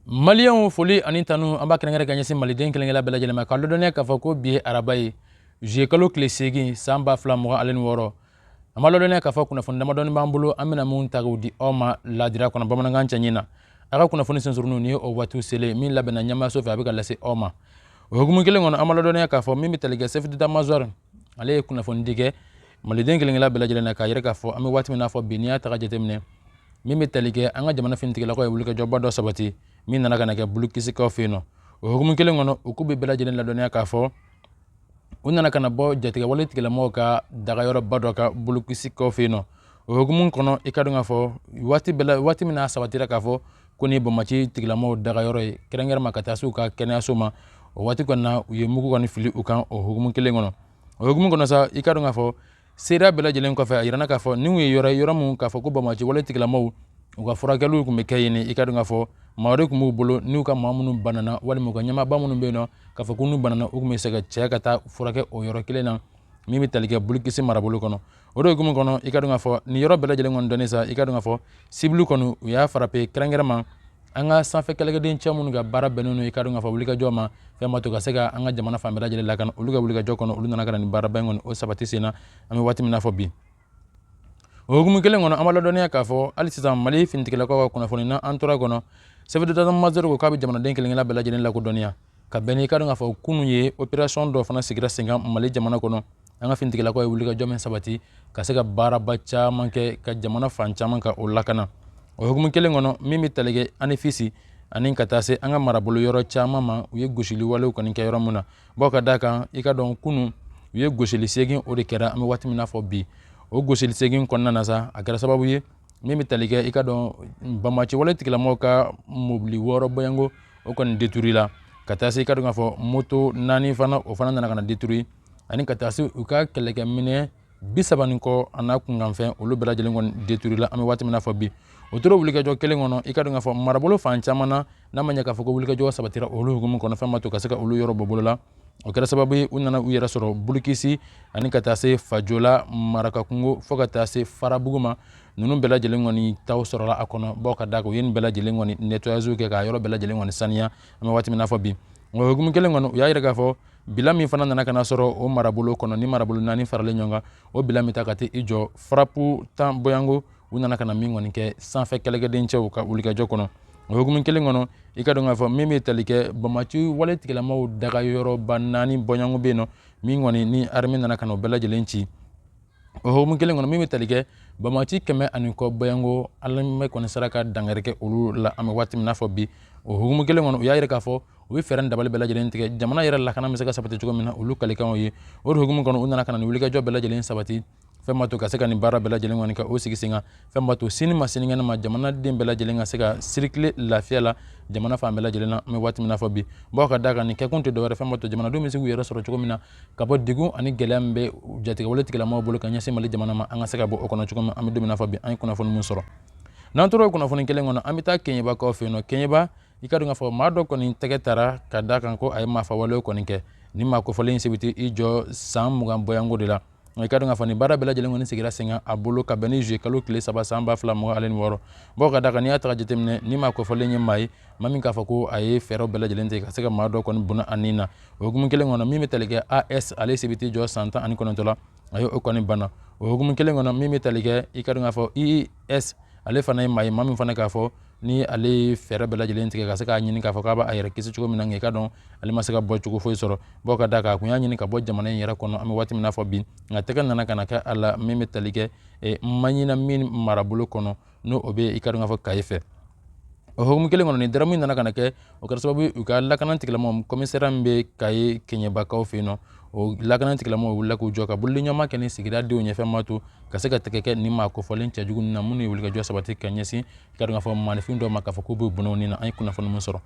Maliyɛnw foli ani tanu an b'a kɛrɛnkɛrɛn ka ɲɛsin maliden kelen-kelen bɛɛ lajɛlen ma k'a ladɔnniya k'a fɔ ko bi araba ye zuye kalo tile segin san ba fila mugan ani wɔɔrɔ an b'a ladɔnniya k'a fɔ kunnafoni damadɔ b'an bolo an bɛna minnu ta k'u di aw ma ladira kɔnɔ bamanankan cɛɲi na a ka kunnafoni sensurunnin o waati selen min labɛnna ɲɛmaso fɛ a bɛ ka lase aw ma o hukumu kelen kɔnɔ an b'a ladɔnniya k'a fɔ min bɛ tali kɛ chef d'état-major ale ye kunnafoni di kɛ maliden kelen-kelen bɛɛ lajɛlen na k'a yira k'a fɔ an bɛ waati min n'a fɔ bi n'i y'a ta jateminɛ min bɛ tali kɛ an ka jamana finitigilakaw ye wulikajɔba dɔ sabati min nana ka na kɛ bulukisikaw fɛ yen nɔ o hukumu kelen kɔnɔ u k'u bɛ bɛɛ lajɛlen ladɔnniya k'a fɔ u nana ka na bɔ jatigɛwale tigilamɔgɔw ka dagayɔrɔba dɔ kan bulukisikaw fɛ yen nɔ o hukumu kɔnɔ i ka dɔn k'a fɔ waati bɛɛ la waati min n'a sabatira k'a fɔ ko nin banbaanci tigilamɔgɔw dagayɔrɔ ye kɛrɛnkɛrɛn ma ka taa se u ka kɛnɛyaso ma o waati kɔni na u ye mugu kɔni fili u kan o hukumu kelen kɔnɔ o hukumu kɔnɔ sa i ka dɔn k'a fɔ seereya bɛɛ lajɛlen kɔfɛ a jirana k'a fɔ ninw ye yɔrɔ ye yɔrɔ min k'a fɔ ko banbaanciwale tigilamaw u ka furakɛliw tun bɛ kɛ yen i ka dɔn k'a fɔ maa de tun b'u bolo n'u ka maa minnu banana walima u ka ɲɛmaaba minnu bɛ yen nɔ k'a fɔ ko n'u banana u tun bɛ se k'u cɛ ka taa furakɛ o yɔrɔ kelen na min bɛ tali kɛ bulikisi marabolo kɔnɔ o de hukumu kɔnɔ i ka dɔn k'a fɔ nin yɔrɔ bɛɛ lajɛlen kɔni dɔnnen sa i ka dɔn k'a fɔ cible kɔnɔ u y'a frappé kɛrɛnkɛrɛn ma an ka sanfɛ kɛlɛkɛdencɛw minnu ka baara bɛnnen don i ka dɔn k'a fɔ wulikajɔ ma fɛn min b'a to ka se ka an ka jamana fan bɛɛ lajɛlen lakana olu ka wulikajɔ kɔnɔ olu nana ka na nin baaraba in kɔni o sabati sen na an bɛ waati min na fɔ bi o hukumu kelen kɔnɔ an b'a ladɔnniya k'a fɔ hali sisan mali finitigilakaw ka kunnafoni na an tora kɔnɔ chef d'état-major ko k'a bɛ jamanaden kelen-kelen bɛɛ lajɛlen lakodɔnniya ka bɛn n'i ka dɔn k'a fɔ kunun ye operasɔn dɔ fana sigira senkan mali jamana kɔnɔ an ka finitigilakaw ye wulikajɔ min sabati ka se ka baaraba caman kɛ ka jamana fan caman ka o lakana o hukumu kelen kɔnɔ min bɛ tali kɛ anefisi ani ka taa se an ka marabolo yɔrɔ caman ma u ye gosili walew kɔni kɛ yɔrɔ min na bɔ ka da kan i ka dɔn kunun u ye gosili segin o de kɛra an bɛ waati min na fɔ bi o gosili segin kɔnɔna na sa a kɛra sababu ye min bɛ tali kɛ i ka dɔn banbaanciwale tigilamɔgɔw ka mobili wɔɔrɔ bɔɲɔgɔnko o kɔni détruit la ka taa se i ka dɔn k'a fɔ moto naani fana o fana nana ka na détruit ani ka taa se u ka kɛlɛkɛminɛn bi saba ni kɔ a n'a kunkanfɛn olu bɛɛ lajɛlen kɔni détruit la an bɛ waati min na fɔ bi o tora wulikajɔ kelen kɔnɔ i ka dɔn k'a fɔ marabolo fan caman na n'a ma ɲɛ k'a fɔ ko wulikajɔ sabatira olu hukumu kɔnɔ fɛn min b'a to ka se ka olu yɔrɔ bɔ bolo la o kɛra sababu ye u nana u yɛrɛ sɔrɔ bulukisi ani ka taa se fajola marakakungo fo ka taa se farabugu ma ninnu bɛɛ lajɛlen kɔni taw sɔrɔla a kɔnɔ bɔ ka da kan u ye nin bɛɛ lajɛlen kɔni nettoyage kɛ k'a yɔrɔ bɛɛ lajɛlen kɔni saniya an bɛ waati min na fɔ bi o hukumu kelen kɔnɔ u y'a yira k'a fɔ bilan min fana nana ka na sɔrɔ o marabolo kɔnɔ ni marabolo naani faralen ɲɔgɔn kan o bilan min ta ka t'i jɔ frappe tan bɔɲɔgɔnko u nana ka na min kɔni kɛ sanfɛ kɛlɛkɛdencɛw ka wulikajɔ kɔnɔ o hukumu kelen kɔnɔ i ka dɔn k'a fɔ min bɛ tali kɛ banbaanciwale tigilamaw dagayɔrɔba naani bɔɲɔgɔnko bɛ yen nɔ min kɔni ni arme nana ka na o bɛɛ lajɛlen ci o hukumu kelen kɔnɔ min bɛ tali kɛ banbaanci kɛmɛ ani kɔ bɔyanko alamɛ kɔni sera ka dankari kɛ olu la an bɛ waati min n'a fɔ bi o hukumu kelen kɔnɔ u y'a yira k'a fɔ u bɛ fɛɛrɛ dabali bɛɛ lajɛlen tigɛ jamana yɛrɛ lakana bɛ se ka sabati cogo min na olu kalikanw ye o de hukumu kɔnɔ u nana ka na nin wulikajɔ bɛɛ lajɛlen sabati fɛn ma to ka se ka nin baara bɛɛ lajɛlen kɔni ka o sigi sen kan fɛn ma to sini ma sinikɛnɛ ma jamanaden bɛɛ lajɛlen ka se ka sirikile lafiya la jamana fan bɛɛ lajɛlen na an bɛ waati min na fɔ bi bawo ka da kan nin kɛkun tɛ dɔwɛrɛ fɛn ma to jamanadenw bɛ se k'u yɛrɛ sɔrɔ cogo min na ka bɔ degun ani gɛlɛya min bɛ jatigɛwale tigilamɔgɔw bolo ka ɲɛsin mali jamana ma an ka se ka bɔ o kɔnɔ cogo min an bɛ don min na fɔ bi an ye kunnafoni min sɔrɔ n'an tora o kunnafoni kelen kɔnɔ an bɛ taa keɲɛbakaw fɛ yen nɔ keɲɛba i ka dɔn k'a fɔ maa dɔ kɔni tɛgɛ taara ka da kan ko a ye maafawalew kɔni kɛ nin maa kofɔlen in si bɛ t'i jɔ san mugan bɔyanko de la i ka dɔn k'a fɔ nin baara bɛɛ lajɛlen kɔni sigira sen kan a bolo ka bɛn ni juye kalo tile saba san ba fila mugan ale ni wɔɔrɔ bawo ka da kan n'i y'a ta ka jateminɛ nin maa kofɔlen ye maa ye maa min k'a fɔ ko a ye fɛɛrɛw bɛɛ lajɛlen tigɛ ka se ka maa dɔ kɔni bɔnɛ a nin na o hukumu kelen kɔnɔ min bɛ tali kɛ as ale si bɛ t'i jɔ san tan ani kɔnɔntɔn la a ye o kɔni banna o hukumu kelen kɔnɔ min bɛ tali kɛ i ka dɔn k'a fɔ i s ale fana ye maa ye maa min fana k'a fɔ ni ale ye fɛɛrɛ bɛɛ lajɛlen tigɛ ka se k'a ɲini k'a fɔ k'a b'a yɛrɛ kisi cogo min na nka i ka dɔn ale ma se ka bɔcogo foyi sɔrɔ bawo ka da kan a kun y'a ɲini ka bɔ jamana in yɛrɛ kɔnɔ an bɛ waati min na fɔ bi nka tɛgɛ nana ka na kɛ a la min bɛ tali kɛ eh, maɲina min marabolo kɔnɔ n'o bɛ i ka dɔn k'a fɔ kayi fɛ o hukumu kelen kɔnɔ nin daramu nana ka na kɛ o kɛra sababu u ka lakana tigilamɔgɔ komisariya min bɛ kayi keɲɛbakaw fɛ yen nɔ o lakana tigilamɔgɔ wulila k'u jɔ ka bolodiɲɔgɔnma kɛ ni sigida denw ye fɛn ma to ka se ka tɛgɛ kɛ nin maa kofɔlen cɛjugu na minnu ye wulikajɔ sabati ka ɲɛsin i ka dɔn k'a fɔ maanifin dɔw ma k'a fɔ k'u b'u bɔnɛ u ni na an ye kunnafoni min sɔrɔ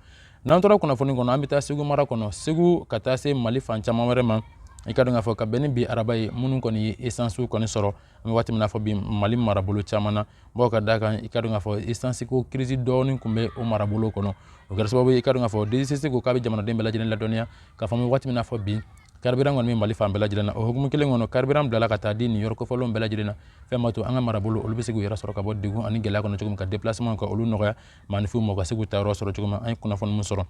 n'an tora kunnafoni kɔnɔ an bɛ taa segu mara kɔnɔ segu ka taa se mali fan caman wɛrɛ ma i ka dɔn k'a fɔ ka bɛn ni bi araba ye minnu kɔni ye esansiw kɔni sɔrɔ an bɛ waati min na fɔ bi mali marabolo caman na bawo ka da kan i ka dɔn k'a fɔ esansiko kirisi dɔɔnin kun bɛ o marabolo kɔnɔ o kɛra sababu ye i ka dɔn k'a fɔ dcc ko k'a bɛ jamanaden bɛɛ lajɛlen ladɔnniya k'a fɔ an bɛ waati min na fɔ bi karibiran kɔni bɛ mali fan bɛɛ lajɛlen na o hukumu kelen kɔnɔ karibiran bilala ka taa di nin yɔrɔ kofɔlenw bɛɛ lajɛlen na fɛn ma to an ka marabolo olu bɛ se k'u yɛrɛ sɔrɔ ka bɔ degun ani gɛlɛya kɔnɔ cogo min ka depilasemanw ka olu nɔgɔya maaninfinw ma u ka se k'u taayɔrɔ sɔrɔ cogo min an ye kunnafoni min sɔrɔ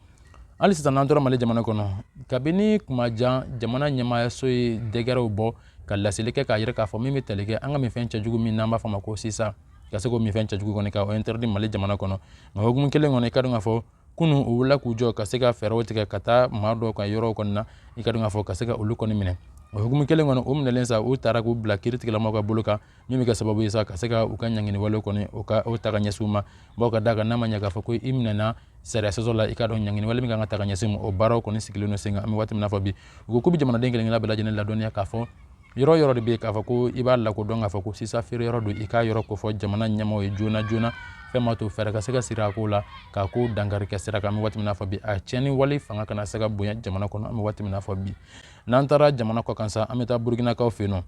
hali sisan n'an tora mali jamana kɔnɔ kabini kuma jan jamana ɲɛmaayaso ye dɛkɛrɛw bɔ ka laseli kɛ k'a jira k'a fɔ min bɛ tali kɛ an ka minfɛn cɛjugu min n'an b'a fɔ ma ko sisa ka se k'o minfɛn cɛjugu kɔni ka o interdit mali jamana kɔnɔ nka hukumu kelen kɔnɔ i ka dɔn k'a fɔ kunu u wulila k'u jɔ ka se ka fɛɛrɛw tigɛ ka taa maa dɔw ka yɔrɔw kɔni na i ka dɔn k'a fɔ ka se ka olu kɔni minɛ o hukumu kelen kɔnɔ o minɛlen sa u taara k'u bila kiiritigilamaw ka bolo kan min bɛ kɛ sababu ye sa ka se ka u ka ɲanginiwalew kɔni o ka o ta ka ɲɛsin u ma bawo ka da kan n'a ma ɲɛ k'a fɔ ko i minɛna sariya sɔsɔ la i k'a dɔn ɲangini wale min kan ka ta ka ɲɛsin o baaraw kɔni sigilen don sen kan an bɛ waati min na fɔ bi u ko k'u bɛ jamanaden kelen kelenna bɛɛ lajɛlen ladɔnniya k'a fɔ yɔrɔ yɔrɔ de bɛ k'a fɔ ko i b'a lakodɔn k'a fɔ ko sisa feere yɔrɔ don i k'a yɔrɔ kofɔ jamana ɲɛmaaw ye joona joona fɛn ma to fɛɛrɛ ka se ka siri a ko la k'a ko dankari kɛ sira kan an bɛ waati min na fɔ bi a tiɲɛni wale fanga kana se ka bonya jamana kɔnɔ an bɛ waati min na fɔ bi n'an taara jamana kɔkan sa an bɛ taa burukinakaw fɛ yen nɔ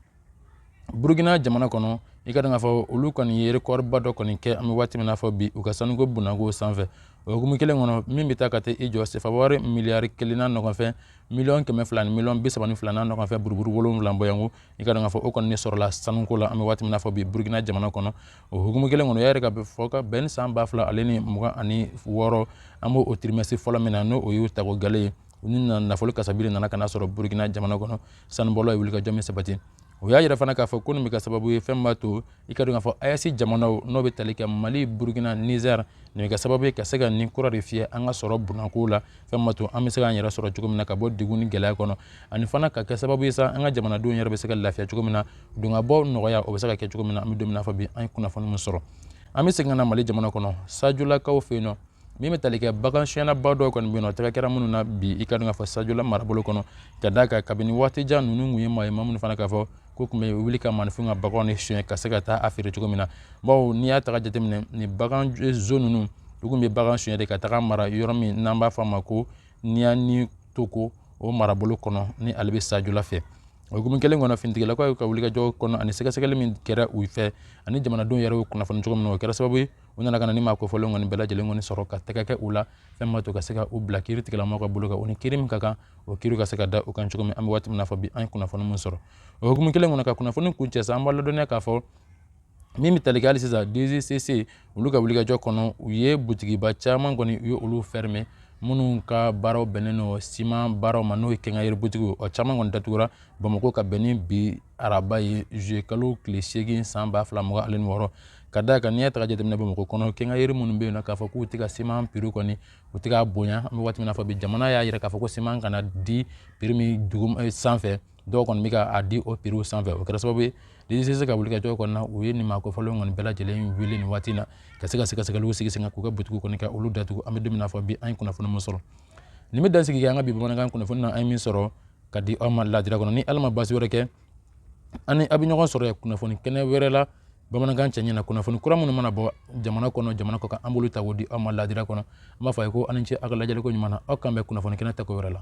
burukina jamana kɔnɔ i k'a dɔn k'a fɔ olu kɔni ye rekɔriba dɔ kɔni kɛ an bɛ waati min na fɔ bi u ka sanuko bunako sanfɛ o hukumu kelen kɔnɔ min bɛ taa ka taa i jɔ sefawari miliyari kelen n'a nɔgɔnfɛn miliyɔn kɛmɛ fila ni miliyɔn bi saba ni fila n'a nɔgɔnfɛn buruburu wolonwula bɔyanko i k'a dɔn k'a fɔ o kɔni de sɔrɔla sanuko la an bɛ waati min na fɔ bi burukina jamana kɔnɔ o hukumu kelen kɔnɔ o y'a jira k'a fɔ ka bɛn ni san ba fila ale ni mugan ani wɔɔrɔ an b'o tirimɛsi fɔlɔ min na n'o o y'o tako gale ye u ni nafolo kasabili nana ka na sɔrɔ burukina jamana kɔnɔ sanubɔlaw ye wulikajɔ min sabati u y'a jira fana k'a fɔ ko nin bɛ kɛ sababu ye fɛn b'a to i k'a dɔn k'a fɔ AES jamanaw n'o bɛ tali kɛ mali burukina nizɛri nin bɛ kɛ sababu ye ka se ka nin kura de fiyɛ an ka sɔrɔ bunako la fɛn b'a to an bɛ se k'an yɛrɛ sɔrɔ cogo min na ka bɔ degun ni gɛlɛya kɔnɔ ani fana ka kɛ sababu ye sa an ka jamanadenw yɛrɛ bɛ se ka lafiya cogo min na donkabɔ nɔgɔya o bɛ se ka kɛ cogo min na an bɛ don min na fɔ bi an ye kunnafoni min sɔrɔ an bɛ segin ka na mali jamana kɔnɔ sajolakaw fɛ yen nɔ min bɛ tali kɛ bagansonyɛnaba dɔw kɔni bɛ yen nɔ tɛgɛ kɛra minnu na bi i k'a dɔn k'a fɔ sajola marabolo kɔnɔ ka d'a kan kabini waati jan ninnu tun ye maa ye maa minnu fana k'a fɔ k'u tun bɛ wuli ka maaninfinw ka baganw de sonyɛ ka se ka taa a feere cogo min na bawo n'i y'a ta k'a jateminɛ nin baganzon ninnu u tun bɛ bagan sonyɛ de ka tag'a mara yɔrɔ min n'an b'a fɔ a ma ko niyani toko o marabolo kɔnɔ ni ale bɛ sajola fɛ o hukumu kelen kɔnɔ finitigilakaw ka wulikajɔ kɔnɔ ani sɛgɛsɛgɛli min kɛra u fɛ ani jamanadenw yɛrɛ y'u kunnafoni cogo min na o kɛra sababu ye u nana ka na ni maa kofɔlenw kɔni bɛɛ lajɛlen kɔni sɔrɔ ka tɛgɛ kɛ u la fɛn b'a to ka se ka u bila kiiritigɛlamɔgɔw ka bolo kan u ni kiiri min ka kan o kiiri ka se ka da u kan cogo min an bɛ waati min na fɔ bi an ye kunnafoni min sɔrɔ o hukumu kelen kɔnɔ ka kunnafoni kuncɛ sa an b'a ladɔnniya k'a fɔ min bɛ tali kɛ hali sisan DGCC olu ka wulikajɔ kɔnɔ u ye butigiba caman kɔni u ye olu fɛrɛmɛ minnu ka baaraw bɛnnen don siman baaraw ma n'o ye kɛnkayiri butigiw o caman kɔni datugura bamakɔ ka bɛn ni bi araba ye zuye kalo tile seegin san ba fila mugan ani wɔɔrɔ ka d'a kan n'i y'a ta k'a jateminɛ bamakɔ kɔnɔ kɛnkayiri minnu bɛ yen nɔ k'a fɔ k'u tɛ ka siman piri kɔni u tɛ k'a bonya an bɛ waati min na fɔ bi jamana y'a jira k'a fɔ ko siman kana di piri min dugu eh, sanfɛ dɔw kɔni bɛ ka a di o piriw sanfɛ o kɛra sababu ye DGCC ka wulikajɔ kɔnɔna na u ye nin maakofɔlenw kɔni bɛɛ lajɛlen wele nin waati in na ka se ka sɛgɛsɛgɛliw sigi sen kan k'u ka butigiw kɔni ka olu datugu an bɛ don min na fɔ bi an ye kunnafoni min sɔrɔ nin bɛ dansigi kɛ an ka bi bamanankan kunnafoni na an ye min sɔrɔ ka di aw ma ladira kɔnɔ ni ala ma baasi wɛrɛ kɛ an ni a bɛ ɲɔgɔn sɔrɔ kunnafoni kɛnɛ wɛrɛ la bamanankan cɛɲɛ na kunnafoni kura minnu mana bɔ jamana kɔnɔ jamana kɔ kan an b'olu ta k'o di aw ma laadira kɔnɔ an b'a fɔ a ye ko aw ni ce aw ka lajɛliko ɲuman na aw k'an bɛn kunnafoni kɛnɛ tako wɛrɛ la